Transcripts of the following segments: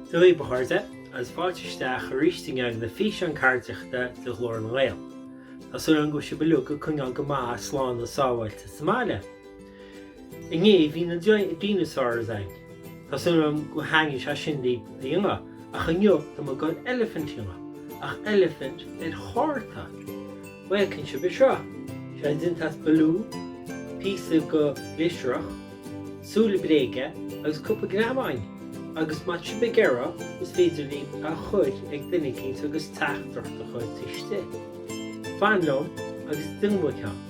Dia daoibh a chairde, agus fáilte isteach arís chuig na Físeáin Cairdiachta de Ghlór na nGael. Tá súil agam go bhfuil sibh uilig ag coinneáil go maith slán agus sábháilte sa mbaile. Inné bhí na dinosaurs againn. Tá súil agam gur thaitnigh sé sin libh a dhéanamh, ach inniu tá muid ag goil eilifint a dhéanamh, ach eilifint ar chárta. Mar a fheiceann sibh seo, tá sé déanta as balún, píosa de ghlioscarnach, súile bréige agus cúpla greamáin, agus má tá sibh ag iarraidh, is féidir libh é a chuir ag duine eicínt agus teachtaireacht a chuir istigh. Fan liom agus déanfaidh muid ceann.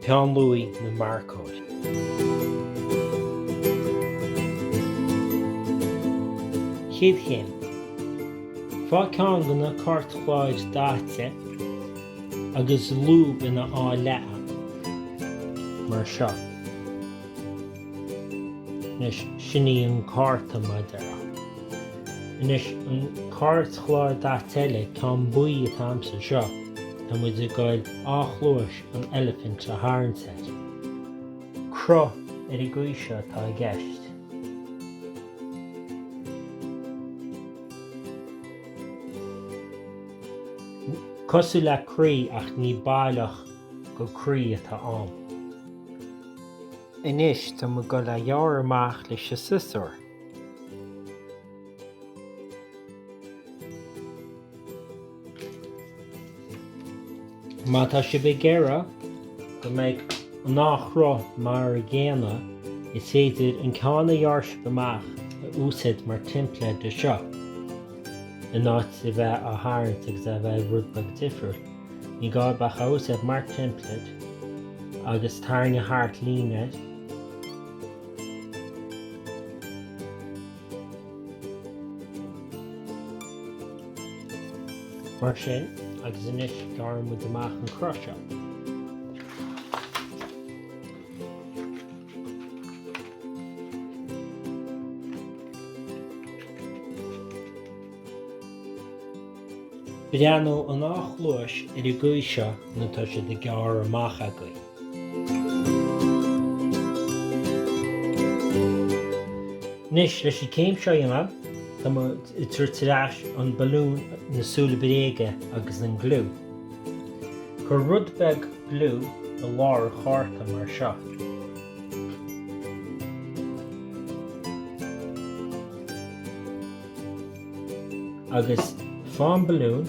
Peann Luaidh nó marcóir. Chéad Chéim. Faigh ceann de na cairtchláir daite agus lúb ina dhá leath, mar seo. Anois, sin é an cárta mar a déarfá. Anois, an cairtchlár daite eile, ceann buí atá agamsa, seo, tá muid ag goil dhá chluais, an eilifint a tharraingt air. Cruth ar an gcaoi seo atá i gceist. Cosúil le croí ach ní baileach gur croí atá ann. Anois tá muid ag goil á ghearradh amach leis an siosúr. Má tá sibh ag iarraidh go mbeidh an dá chruth mar an gcéanna, is féidir an ceann a ghearr sibh amach a úsaid mar teimpléad do seo, in áit a bheith á tharraingt agus é a bheith rud beag difriúil. Ní gá ach é a úsáid mar teimpléad agus tarraing thart líne, Mar sin, agus anois gearrfaidh muid amach an cruth seo. Breathnóidh an dá chluais ar an gcaoi seo nuair atá siad gearrtha amach againn. Anois, leis an gcéim seo a dhéanamh, tá muid ag tabhairt ar ais an balún, na súile bréige agus an gliú. Cuir rud beag gliú i lár an chárta mar seo. Agus faigh an balún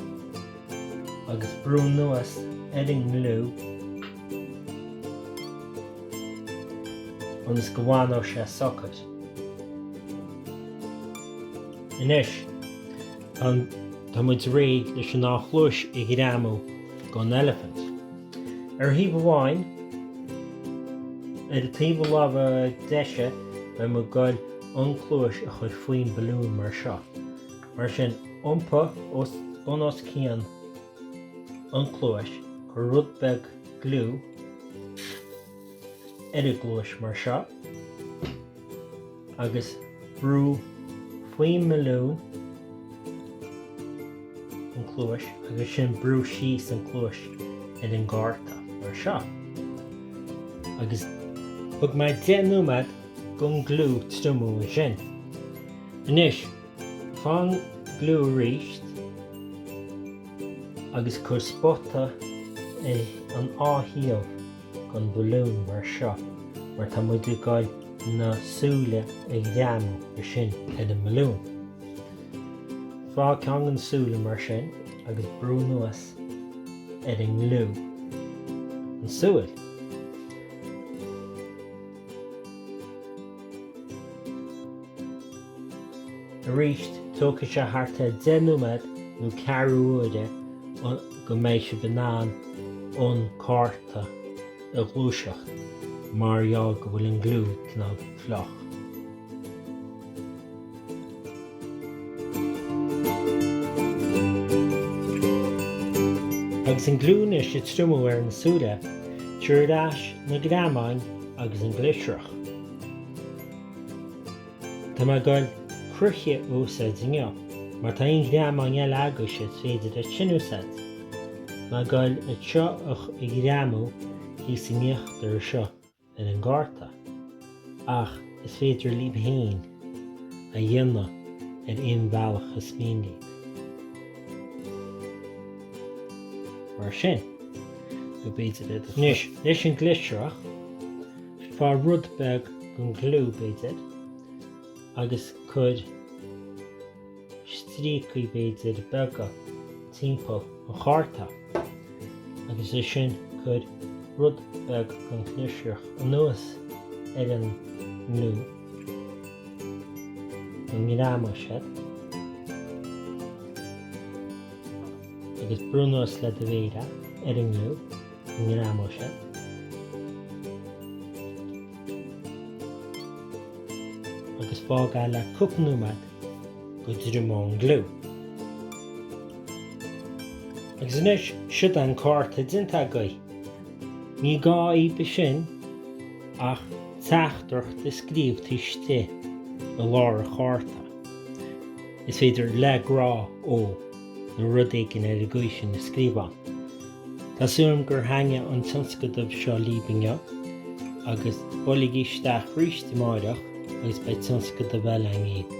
agus brú anuas ar an ngliú ionas go bhfanfadh sé socair. Anois, tá muid réidh leis an dá chluais a ghreamú gon eilifint. Ar thaobh amháin, ar an taobh na láimhe deise, beidh muid ag gabhail an chluais a chur faoin mbalún mar seo. Mar sin, iompaigh bunoscionn an chluais, cuir rud beag gliú ar an gcluais mar seo, agus brú faoin mbalún an chluais agus ansin brú síos an chluais ar an gcárta mar seo. Agus thug mé 10 nóiméad gon gliú triomú ansin. Anois, Faigh an gliú aríst agus cuir spota ar an dá thaobh gon balún mar seo mar tá muid ag dul na súile a ghreamú ansin ar an mbalún. Faigh ceann go na súile mar sin agus brú anuas ar an ngliú an súil. Aríst, tógfaidh sé thart ar deich nóiméad nó ceathrú uaire go mbeidh sibh in ann an cárta a ghluaiseacht mar gheall go bhfuil an gliú cineál fliuch. Agus an gliú anois ag triomú ar na súile, tabhair ar ais na greamáin agus an glisreach. Tá mé ag gabhail croíthe a úsáid inniu má tá aon ghreamáin eile agaibhse is féidir iad sin a úsáid. Tá mé ag gabhail iad seo a ghreamú thíos in íochtar anseo ar an gcárta. Ach is féidir libh fhéin a dhéanamh ar aon bhealach is mian libh. Mar sin, nó b'fhéidir iad a chur. Anois, leis an gléasrach. Faigh rud beag den ghliú, b'fhéidir, agus cuir stríocaí, b'fhéidir, beaga timpeall an chárta, agus é sin cuir rud beag den ghliostar anuas ar an ngliú, ar nós mar sin, agus brúigh anuas le do mhéar ar an ngliú. Agus fág é le cúpla nóiméad go dtriomaíonn an gliú. Agus anois siod an cárta déanta agaibh. Ní gá dhaoibh ansin ach teachtaireacht a scríobh taobh istigh i lár an chárta. Is féidir 'Le grá ó. nó rud éigin ar an gcaoi sin a scríobhadh. Tá súil agam gur thaitnigh an tionscadamh seo libh inniu agus buailigí isteach arís amáireach agus beidh tionscadamh eile anseo.